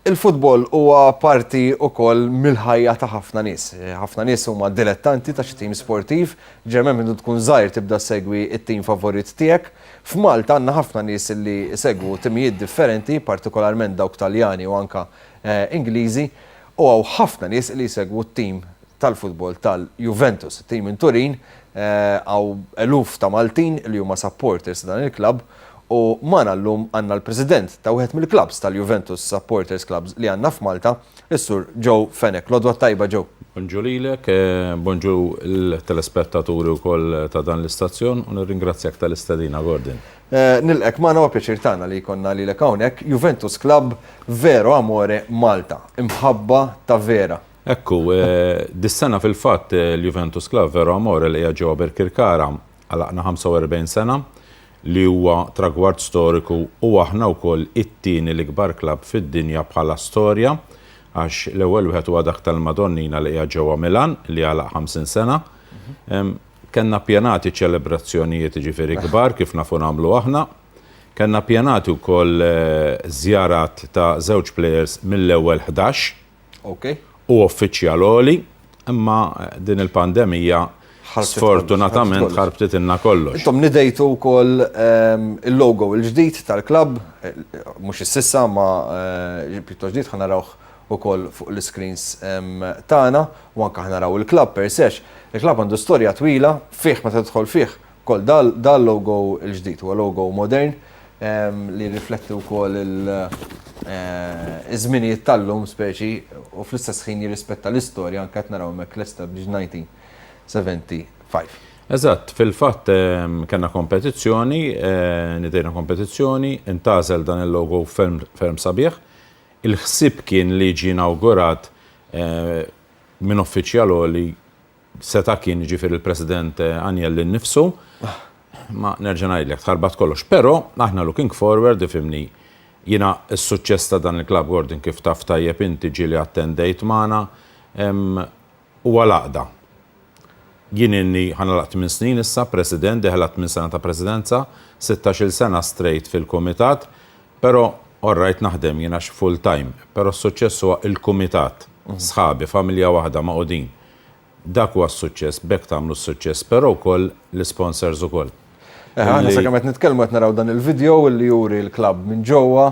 Il-futbol huwa parti wkoll mill-ħajja ta' ħafna nies. Ħafna nies huma dilettanti ta' xi tim sportiv, ġeneralment minn tkun żgħir tibda ssegwi t-tim favorit tiegħek. F'Malta għandna ħafna nies li jsegwu timijiet differenti, partikolarment dawk Taljani u anke Ingliżi, u hawn ħafna nies li jsegwu t-tim tal-futbol tal-Juventus, it-tim minn Turin, hawn eluf ta' Maltin li huma supporters ta' dan il-klabb u magħna llum għandna l-President ta' wieħed mill-klabbs tal-Juventus supporters clubs li għandna f'Malta, is-Sur Joe Fenech. L-għodwa t-tajba Joe. Bonġur lilek, bonġur lill-telespettaturi wkoll ta' dan l-istazzjon u nirringrazzjak tal-istedina Gordon. Nilqgħek magħna huwa pjaċir tagħna li jkollna lilek hawnhekk, Juventus Club vero amore Malta, imħabba ta' vera. Hekk hu. Dis-sena fil-fatt l-Juventus Club Vero Amore li qiegħed ġewwa Birkirkara għalaqna 45 sena li huwa tragward storiku u aħna wkoll it-tieni l-ikbar club fid-dinja bħala storja għax l-ewwel wieħed huwa dak tal-Madonnina li qiegħed ġewwa Milan li għalaq 50 sena. Kellna ppjanati ċelebrazzjonijiet jiġifieri kbar kif nafu nagħmlu aħna. Kellna ppjanati wkoll żjarat ta' żewġ players mill-ewwel ħdax. Hu uffiċjal għoli, imma din il-pandemija sfortunatament ħarbtitilna kollox. Intom nidejtu wkoll il-logo l-ġdid tal-klabb, mhux is-sissa imma pjuttost ġdid, ħa narawh ukoll fuq l-iscreens tagħna u anke ħa naraw il-klabb per se. Il-klabb għandu storja twila, fih meta tidħol fih Ukoll dan l-logo l-ġdid huwa logo modern li jirrifletti wkoll iż-żminijiet tal-lum speċi u fl-istess ħin jirrispetta l-istorja anke qed naraw hemmhekk l-established 1975. Eżatt, fil-fatt kellna kompetizzjoni, nidejna kompetizzjoni, intgħażel dan il-logo ferm ferm sabiħ. Il-ħsieb kien li jiġi inawgurat minn uffiċjal għoli Seta' kien jiġifieri l-President Agnelli nnifsu. Imma nerġa' ngħidlek, tħarbat kollox. Però aħna looking forward, ifhimni, jiena s-suċċess ta' dan il-klabb, Gordon, kif taf tajjeb inti, ġieli attendejt magħna, huwa l-għaqda. Jien ilni, ħa nagħlaq tmien snin issa, President, deħel għat-tmien sena ta' Presidenza, sittax-il sena straight fil-Kumitat, però all right naħdem jien għax full-time, però s-suċċess huwa l-Kumitat, sħabi, familja waħda, magħqudin. Dak huwa s-suċċess, b'hekk tagħmlu s-suċċess, però wkoll l-isponsors ukoll. Eħe, aħna sakemm qed nitkellmu qed naraw dan il-video li juri l-klabb minn ġewwa.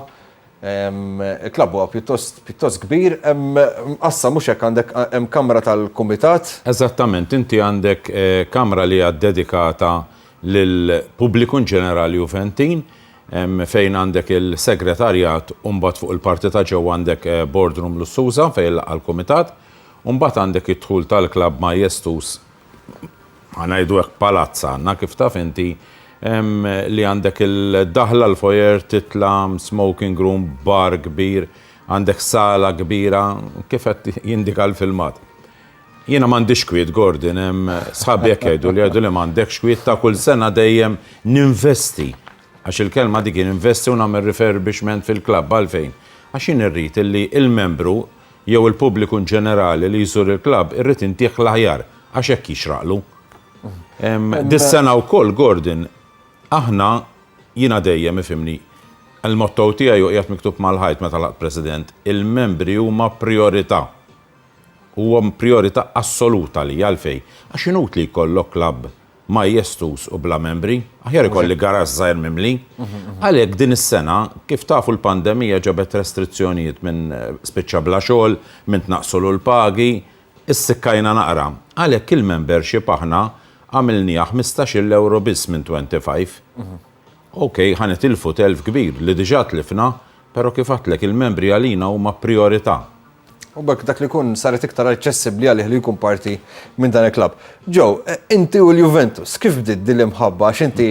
Il-klabb huwa pjuttost pjuttost kbir, hemm mqassam mhux hekk għandek hemm kamra tal-kumitat. Eżattament, inti għandek kamra li hija ddedikata lill-pubbliku in ġenerali Juventin, fejn għandek il-segretarjat u mbagħad fuq il-parti ta' ġewwa għandek boardroom lussuża fejn jiltaqgħa l-kumitat. U mbagħad għandek id-dħul tal-klabb majestuż, ħa ngħidu hekk, palazz għandna, kif taf inti, li għandek il-daħla, l-foyer, titla', smoking room, bar kbir, għandek sala kbira, kif qed jindika l-filmat. Jiena m'għandix kwiet, Gordon, sħabi hekk jgħiduli, jgħiduli m'għandekx kwiet, ta' kull sena dejjem ninvesti, għax il-kelma dik hi, ninvesti u nagħmel refurbishment fil-klabb. Għalfejn? Għax jien irrid li l-membru, jew il-pubbliku in ġenerali li jżur il-klabb irrid intieh l-aħjar għax hekk jixraqlu. Dis-sena wkoll Gordon aħna jiena dejjem ifhimni il-motto tiegħi u qiegħed miktub mal-ħajt meta laqt President, il-membri huma prijorità. Huwa prijorità assolut għalija għalfejn? Għax inutli jkollok klabb majestus u bla membri, aħjar ikolli garaxx żgħir mimli. Għalhekk din is-sena, kif tafu l-pandemija ġabet restrizzjonijiet min spiċċa bla xogħol, min tnaqqsulu l-pagi, issikkajna naqra. Għalhekk il-membership aħna għamilniha ħmistax-il ewro biss minn twenty five. Ok, ħa nitilfu telf kbir li diġà tlifna, però kif għedtlek il-membri għalina huma prijorità. U b'hekk dak li jkun saret iktar aċċessibbli għalih li jkun parti minn dan il-klabb. Joe, eh, inti u l-Juventus, kif bdiet din l-imħabba għax inti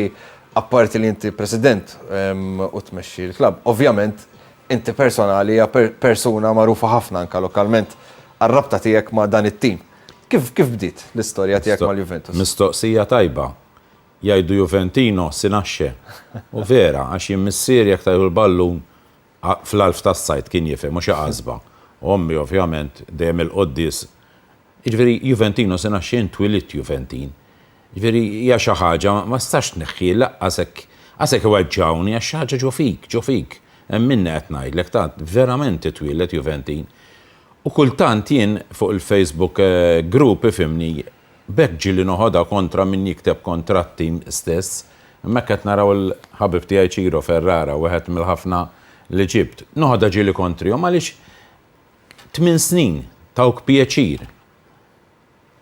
apparti li inti president ehm, u tmexxi l-klabb, ovvjament inti personali hija persuna magħrufa ħafna anka lokalment għar-rabta tiegħek ma' dan it-tim. Kif kif bdiet l-istorja tiegħek mal-Juventus? Mistoqsija tajba. Jgħidu Juventino sinaxxe. U vera, għax jien missier jekk tajħu l-ballun fl-għalf tas-sajd kien jifhem u xi għasba. U ommi ovvjament dejjem il-quddies. Jiġifieri Juventino se ngħax jien twilidt Juventin. Jiġifieri hija xi ħaġa ma tistax tneħħi lanqas hekk qas hekk iweġġgħuni għax xi ħaġa ġo fik, ġo fik. Hemm minni qed ngħidlek tant verament titwieled Juventin. U kultant jien fuq il-Facebook group ifhimni B'hekk ġieli noħodha kontra min jikteb kontra t-tim stess. Imma hekk qed naraw il-ħabib tiegħi Ciro Ferrara, wieħed mill-ħafna li ġibt. Noħodha ġieli kontrihom għaliex tmien snin tawk pjaċir.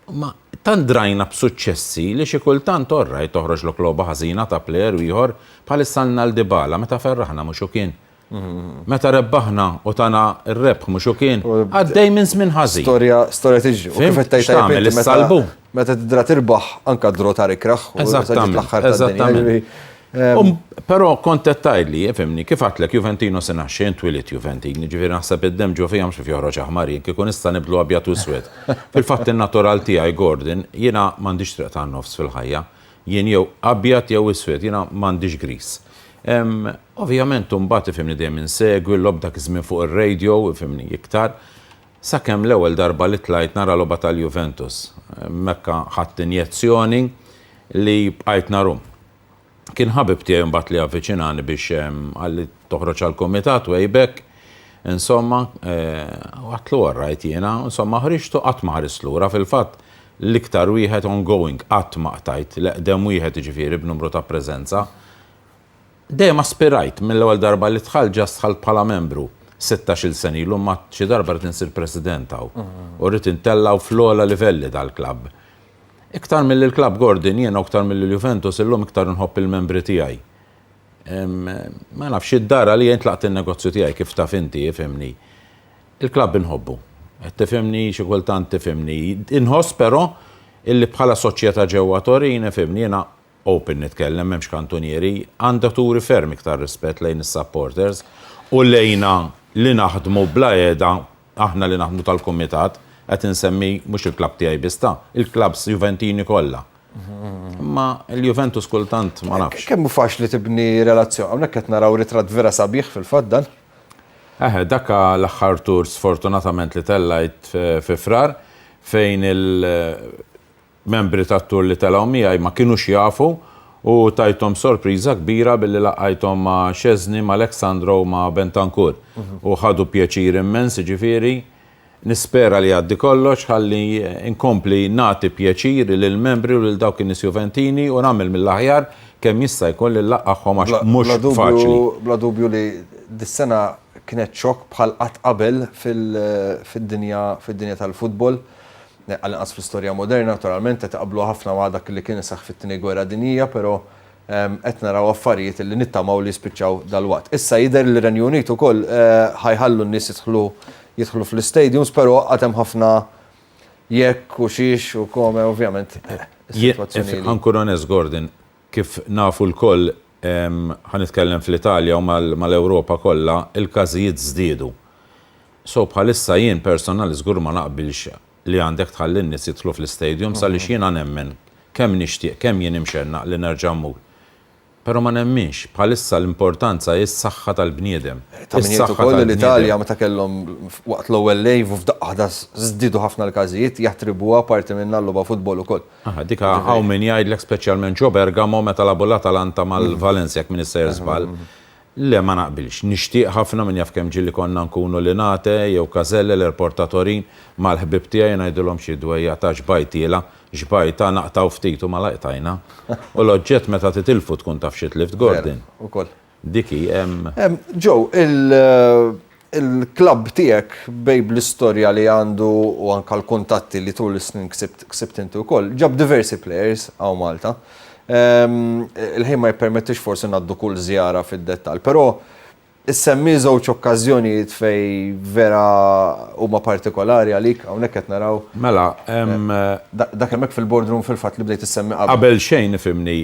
Imma tant drajna b'suċċessi li xi kultant orrajt toħroġlok logħba ħażina ta' plejer ieħor bħal is-Sannal Dybala meta ferraħna mhux hu kien. Meta rebbaħna u tana r-rebħ mhux hu kien għaddej minn żmien ħażin. Storja storja tiġri. Kif qed tgħid tagħmel is-salbu? Meta tidra tirbaħ anke d-draw ta' rikraħ. Eżattament. Eżattament. Però kont qed tgħidli, fimni, kif għatlek Juventino se naħxi int twilit Juventini, ġifieri naħseb id-demm ġo fija mhux kif joħroġ aħmar jien kieku nista' nibdlu abjad u swed. Fil-fatt in-natural tiegħi Gordon jiena m'għandix triq tan-nofs fil-ħajja. Jien jew abjad jew iswed, jiena m'għandix griż. Ehm, ovvjament imbagħad ifhimni dejjem insegwi l-logħob dak iż-żmien fuq ir-radio, ifhimni, iktar. Sakemm l-ewwel darba li tlajt nara logħba tal-Juventus. Hemmhekka ħadt injezzjoni li bqajt naru. Kien ħabib tiegħi mbagħad li avviċinani biex ehm, qalli toħroġ għall-kumitat way back. Insomma, eh, għatlu orrajt jiena, insomma ħriġtu qatt ma ħarist lura fil-fatt. L-iktar wieħed ongoing, qatt ma qtajt, l-eqdem wieħed jiġifieri b'numru ta' preżenza. Dejjem aspirajt, mill-ewwel darba li dħalt ġast dħalt bħala membru, sittax-il sena ilu imma xi darba rrid insir president hawn u rrid intella' hawn fl-ogħla livelli tal-klabb. Iktar milli l-klabb Gordon, jiena u iktar milli l-Juventus illum iktar inħobb il-membri tiegħi. Ma nafx, id-dar għalija jien tlaqt in-negozju tiegħi kif taf inti, ifhimni. Il-klabb inħobbu. Qed tifhimni, xi kultant tifhimni. Inħoss però illi bħala soċjetà ġewwa Torin, ifhimni, jiena open nitkellem, m'hemmx kantunieri, għandha turi ferm iktar rispett lejn is-supporters u lejna li naħdmu bla għeda, aħna li naħdmu tal-kumitat, qed insemmi mhux il-klabb tiegħi biss ta', il-klabbs Juventini kollha. Imma l-Juventus kultant ma nafx. Kemm hu faċli tibni relazzjoni. Hawnhekk qed naraw ritratt vera sabiħ fil-fatt dan. Eħe, dak l-aħħar tour sfortunatament li tellajt fi Frar fejn il-membri tat-tour li telgħu miegħi ma kinux jafu u tajthom sorpriża kbira billi laqajthom ma' Szczesny, ma' Alexandro u ma' Bentancur u ħadu pjaċir immens, jiġifieri, Nispera li jgħaddi kollox ħalli nkompli nagħti pjaċir lill-membri u lil dawk in-nies Juventini u nagħmel mill-aħjar kemm jista' jkun li nlaqqagħhom għax mhux faċli. Bla dubju li dis-sena kienet xokk bħal qatt qabel fid-dinja tal-futbol, għall-inqas fl-istorja moderna, naturalment qed iqabbluha ħafna ma' dak li kien iseħħ fit-Tieni Gwerra Dinjija, però Qed naraw affarijiet li nittamaw li jispiċċaw dalwaqt. Issa jidher li r-Renju Unit ukoll ħa jħallu n-nies jidħlu jidħlu fl-istadiums però għad hemm ħafna jekk u xiex u come ovvjament is-sitwazzjoni li. Ħa nkun onest Gordon, kif nafu lkoll ħa nitkellem fl-Italja u mal-Ewropa kollha, il-każijiet żdiedu. So bħalissa jien personal żgur ma naqbilx li għandek tħalli n-nies jidħlu fl-istadiums għaliex jiena nemmen, kemm nixtieq, kemm jien imxennaq li nerġa' mmur, però ma nemminx, bħalissa l-importanza hi s-saħħa tal-bniedem. Ta' min jgħid ukoll li l-Italja meta kellhom waqt l-ewwel lejv u f'daqqa waħda żdiedu ħafna l-każijiet jattribwuha parti minnha għal-logħba football ukoll. Aha, dik hawn min jgħidlek speċjalment ġo Bergamo meta lagħbu l-Atalanta mal-Valencia jekk m'iniex sejjer żball, Le ma naqbilx. Nixtieq ħafna, min jaf kemm ġieli konna nkunu Linate jew Caselle, l-Airport ta' Torin, mal-ħbieb tiegħi u ngħidilhom xi dwejjaq ta' xbajtiela, xbajta, naqtgħu ftit u malajr tajna. U l-oġġett meta titilfu tkun taf xi tlift, Gordon. Vera, ukoll. Dik hi, hemm. Joe, il, Il-klabb tiegħek bej bl-istorja li għandu u anke l-kuntatti li tul is-snin ksibt inti wkoll, ġab diversi players hawn Malta. Il-ħin ma jippermettix forsi ngħaddu kull żjara fid-dettall, però issemmi żewġ okkażjonijiet fejn vera huma partikolari għalik, hawnhekk qed naraw. Mela, hemm. Dak hemmhekk fil-boardroom fil-fatt li bdejt issemmi qabel. Qabel xejn ifhimni,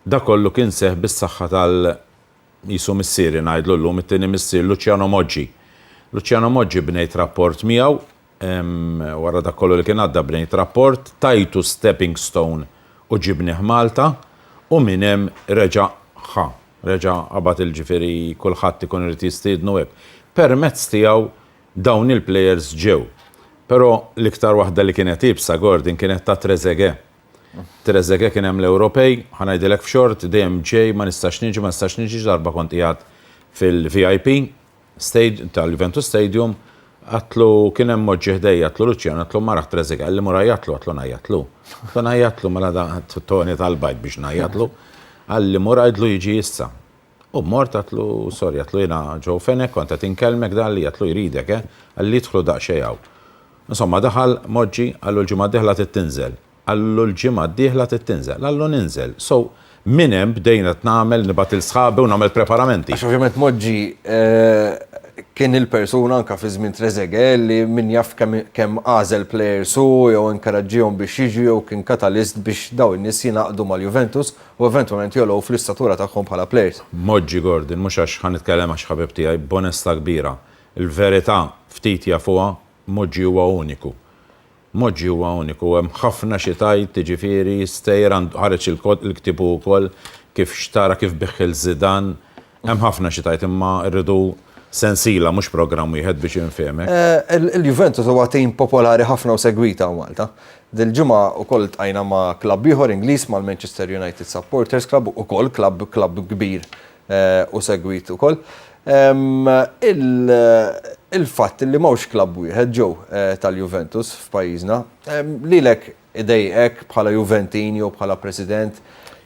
dak kollu kien seħħ bis-saħħa Qisu missieri ngħidlu llum it-tieni missier Luciano Moggi. Luciano Moggi bnejt rapport miegħu, wara dak kollu li kien għadda bnejt rapport, tajtu stepping stone u ġibnih Malta u minn hemm reġa' ħa, reġa' qabad il ġifieri kulħadd ikun irid jistiednu hekk. Permezz tiegħu dawn il-plejers ġew. Però l-iktar waħda li kienet iebsa Gordon kienet ta' Trezeguet. Trezeguet kien hemm l-Ewropej, ħa ngħidilek f'xort, dejjem ġej, ma nistax niġi, ma nistax niġi, xi darba kont qiegħed fil-VIP tal-Juventus Stadium, għidtlu, kien hemm mod ġie ħdejja, għidtlu Luciano, għidtlu ma raħt Trezeguet, qalli mur għajjatlu, għidtlu ngħajjatlu. Għidtlu ngħajjatlu, mela da, toni talbajt biex ngħajjatlu. Qalli mur għidlu jiġi issa. U mort għatlu, sorry, għatlu jiena Joe Fenech kont qed inkellmek dan li għatlu jridek eh, qalli idħlu daqxejn hawn. Insomma daħal, moġġi, qallu l-ġimgħa d-dieħla trid tinżel. Qallu l-ġimgħa d-dieħla trid tinżel, qallu ninżel. So, minn hemm bdejnet nagħmel, nibgħat lil sħabi u nagħmel preparamenti. Għax ovvjament Moġġi kien il-persuna anke fi żmien Trezeguet li min jaf kemm għażel players hu jew inkaraġġihom biex jiġu jew kien katalist biex dawn in-nies jingħaqdu mal-Juventus. u eventwalment jogħlow fl-istatura tagħhom bħala plejers. Moġġi Gordon, mhux għax ħa nitkellem għax ħabib tiegħi, b'onestà kbira, il-verità ftit jafuha, Moġġi huwa uniku. Moġġi huwa uniku, hemm ħafna xi tgħid, jiġifieri Steyer għandu, ħareġ il-ktieb hu wkoll, kif xtara, kif biegħ lil Zidane, Hemm ħafna xi tgħid imma rridu sensiela mhux programm wieħed biex infehmek. Il-Juventus huwa tim popolari ħafna u segwit hawn Malta. Dil-ġimgħa wkoll ltqajna ma' klabb ieħor Ingliż mal-Manchester United Supporters Club, ukoll klabb klabb kbir u segwit ukoll. Il-fatt li m'hawnx klabb wieħed, Joe, tal-Juventus f'pajjiżna, lilek Idejqek bħala Juventin jew bħala President?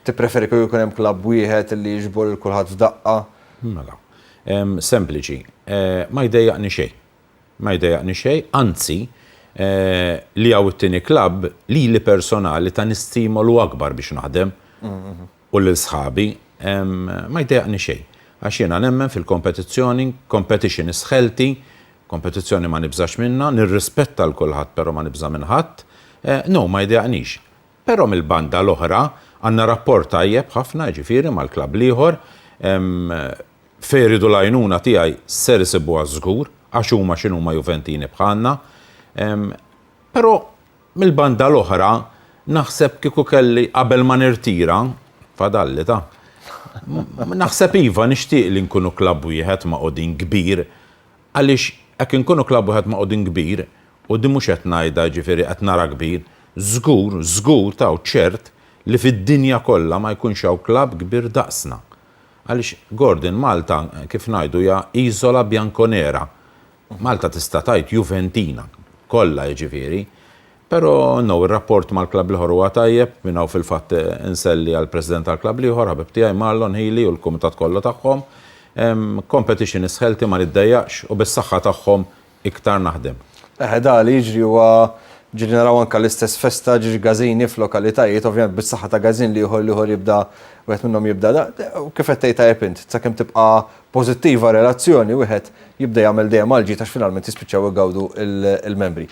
Tippreferi kieku jkun hemm klabb wieħed li jiġbor lil kulħadd f'daqqa? Mela. Sempliċi. Ma jdejjaqni xejn. Ma jdejjaqni xejn, anzi, li hawn it-tieni klabb, lili personali tani stimolu akbar biex naħdem. u lil sħabi, ma jdejjaqni xejn, għax jiena nemmen fil-kompetizzjoni, competition is healthy, kompetizzjoni ma nibżax minnha, nirrispetta 'l kulħadd però ma nibża' minn ħadd, no ma jdejjaqnix. Però mill-banda l-oħra għandna rapport tajjeb ħafna, jiġifieri mal-klabb l-ieħor, fejn iridu l-għajnuna tiegħi ser isibuha żgur, għax huma x'inhuma Juventini bħalna, però Mill-banda l-oħra, naħseb kieku kelli qabel ma nirtira, fadalli ta', naħseb iva nixtieq li nkunu klabb wieħed ma' Qudin kbir għaliex hekk inkunu klabb wieħed ma' Qudin kbir, u din mhux qed ngħidha jiġifieri qed nara kbir, żgur, żgur ta' u ċert li fid-dinja kollha ma jkunx hawn klabb kbir daqsna. Għaliex, Gordon, Malta kif ngħidu hija iżola bianconera. Malta tista' tgħid Juventina kollha jiġifieri, però no, ir-rapport mal-klabb l-ieħor huwa tajjeb, minn hawn fil-fatt inselli għall-President tal-klabb l-ieħor, ħabib tiegħi Marlon Healy u l-kumitat kollu tagħhom. Competition is healthy ma niddejjaqx u bis-saħħa tagħhom iktar naħdem. Eħe dak li jiġri huwa ġieli naraw anke l-istess festa ġiex Gazzini f'lokalitajiet, ovvjament bis-saħħa ta' Gazzin l-ieħor l-ieħor jibda wieħed minnhom jibda kif qed tgħid tajjeb int, sakemm tibqa' pożittiva relazzjoni wieħed jibda jagħmel dejjem għal ġid għax finalment jispiċċaw igawdu l-membri.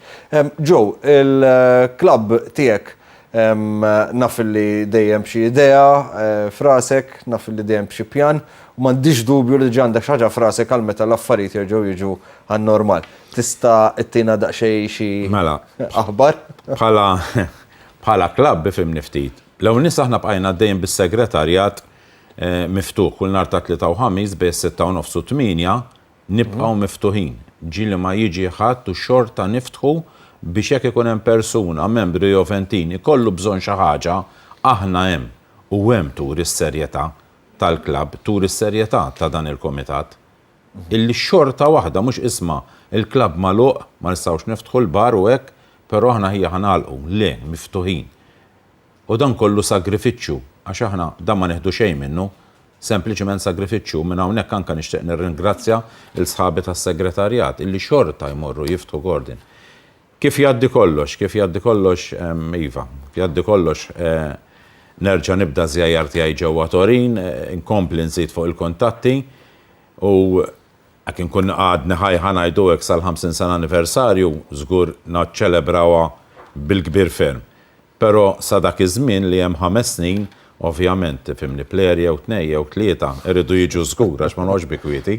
Joe, il-klabb tiegħek naf li dejjem b'xi idea eh, frasek, naf li dejjem b'xi pjan, u m'għandix dubju li ġa għandek ħaġa frasek għal meta l-affarijiet jerġgħu jiġu għan-normal. Tista' ittina daqsxejn xi mela. aħbar? Bħala bħala klabb bifim niftit. L-ewwel nies aħna bqajna dejjem bis-segretarjat Miftuħ kull nhar ta' Tlieta u Ħamis bejn is-sitta u nofs u t-tmienja, nibqgħu miftuħin. Ġieli ma jiġi ħadd u xorta niftħu biex jekk ikun hemm persuna, membru jew ventin, ikollu bżonn xi ħaġa, aħna hemm. U hemm turi s-serjetà tal-klabb, turi s-serjetà ta' dan il-kumitat. Illi xorta waħda, mhux isma' l-klabb magħluq, ma nistgħux niftħu l-bar u hekk, però aħna ħija ħa nagħlqu. Le, miftuħin. U dan kollu sagrifiċċju, għax aħna dan ma nieħdu xejn minnu, sempliċement sagrifiċċju, u minn hawnhekk anke nixtieq nirringrazzja lil sħabi tas-Segretarjat illi xorta jmorru jiftħu Gordon. Kif jgħaddi kollox, kif jgħaddi kollox, iva, jgħaddi kollox, nerġa' nibda ż-żjajjar tiegħi ġewwa Torin, inkompli nżid fuq il-kuntatti, u jekk inkun għadni ħaj ħa ngħidu hekk sal-50 sena anniversarju, żgur naċċelebrawha bil-kbir ferm. Però sa dak iż-żmien li hemm ħames snin, ovvjament, tifhimni, plejer jew tnej jew tlieta iridu jiġu żgur għax ma noqgħodx bi kwieti.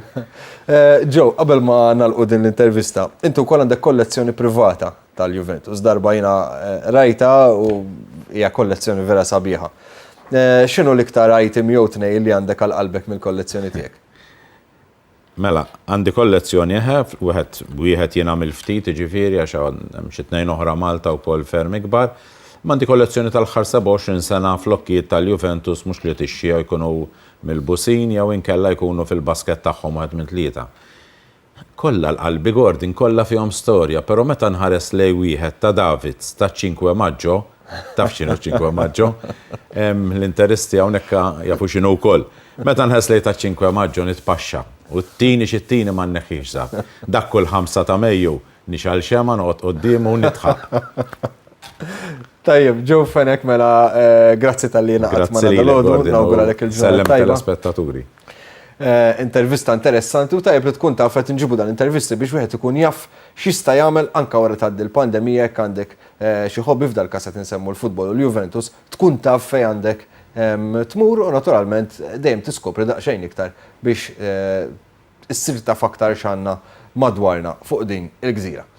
Joe, qabel ma nagħlqu din l-intervista, inti wkoll għandek kollezzjoni privata tal-Juventus. Darba jiena rajtha u hija kollezzjoni vera sabiħa. X'inhu l-iktar item jew tnejn li għandek għal qalbek mill-kollezzjoni tiegħek? Mela, għandi kollezzjoni, eħe, wieħed b'wieħed jien għamilt ftit, jiġifieri, għax hemm xi tnejn oħra Malta wkoll ferm ikbar. Imma għandi kollezzjoni tal-aħħar 27 sena flokkijiet tal-Juventus mhux li tixxi jew jkunu milbusin jew inkella jkunu fil-basket tagħhom wieħed minn tlieta. Kollha l-qalbi Gordon, kollha fihom storja, però meta nħares lejn wieħed ta' Davids taċ-Cinque Maggio, Taf xinu ċinkwe maġġo? L-interisti għawnek jafu xinu u koll. Meta nħes li ta' ċinkwe maġġo nitpaxxa u t-tini xi t-tini ma nneħħix zat. Dak kull ħamsa ta' Mejju nixal xema noqgħod qoddimu u nidħaq. Tajjeb, ġew fenek mela eh, grazzi tal-li naqgħod ma' dal-għodu, nawgura lek il-ġurnata. Sellem tal-aspettaturi. Eh, intervista interessanti u tajb li tkun taf qed nġibu dan intervisti biex wieħed ikun jaf x'jista' jagħmel anke wara tgħaddi l-pandemija jekk għandek Xi hobby, f'dal każ qed insemmu l-futbol u l-Juventus, tkun taf fejn għandek tmur u naturalment dejjem tiskopri daqsxejn iktar biex issir taf aktar x'għandna madwarna fuq din il-gżira.